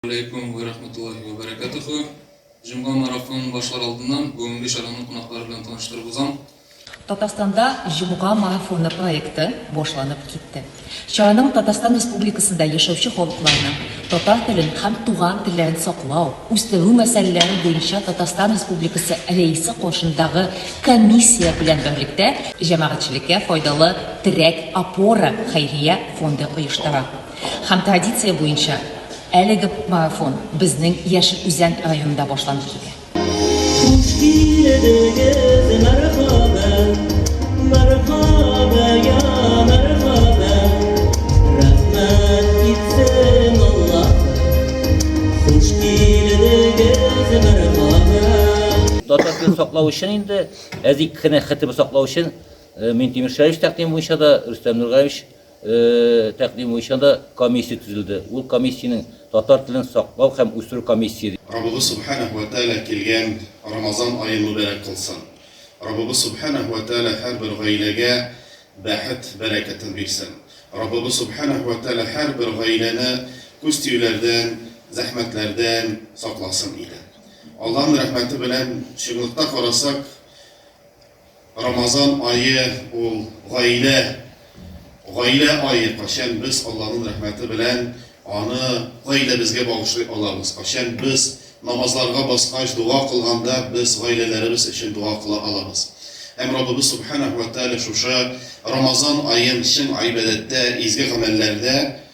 Алейкум вә рахматуллахи вә бәрәкәтүхү! Җомга марафонын башлар алдыннан бүгенге чараны кунаклары белән таныштырып узам. Татарстанда Җомга марафоны проекты башланып китте. Чараның Татарстан Республикасында яшәүче халыкларның татар телен һәм туган телләрен саклау, үстерү мәсьәләләре буенча Татарстан Республикасы Рәисе каршындагы комиссия белән берлектә җәмәгатьчелеккә файдалы Терәк, опора хәйрия фонды оештыра. Һәм традиция буенча әлеге марафон безнең Яшел Үзән районында башланып китә. Хуш килдегез, мәрхәбә, мәрхәбә, я мәрхәбә, рәхмәт итсен Аллаһым, хуш килдегез, мәрхәбә. Татар телен саклау өчен инде, әзик кенә хетип саклау өчен Минтимер Шәриевич тәкъдиме буенча да Рөстәм Нургаевич Тәкъдим буенча да комиссия төзелде. Ул комиссиянең татар телен саклау һәм үстерү комиссия ди. Раббыбыз Сүбхәнәһү вә Тәгалә килгән Рамазан ае мөбарәк кылсын! Раббыбыз Сүбхәнәһү вә Тәгалә һәрбер гаиләгә бәхет бәрәкәтен бирсен! Раббыбыз Сүбхәнәһү вә Тәгалә һәрбер гаиләне күз тиюләрдән, зәхмәтләрдән сакласын иде! Аллаһның рәхмәте белән чынлыкта карасак, Рамазан ае ул гаилә, гаилә ае, кайчан без Алланың рәхмәте белән аны гаиләбезгә багышлый алабыз, кайчан без намазларга баскач дога кылганда без гаиләләребез өчен дога кыла алабыз. Һәм Раббыбыз Субханәһү вә Тәгалә шушы Рамазан аен чын гыйбадәттә, изге гамәлләрдә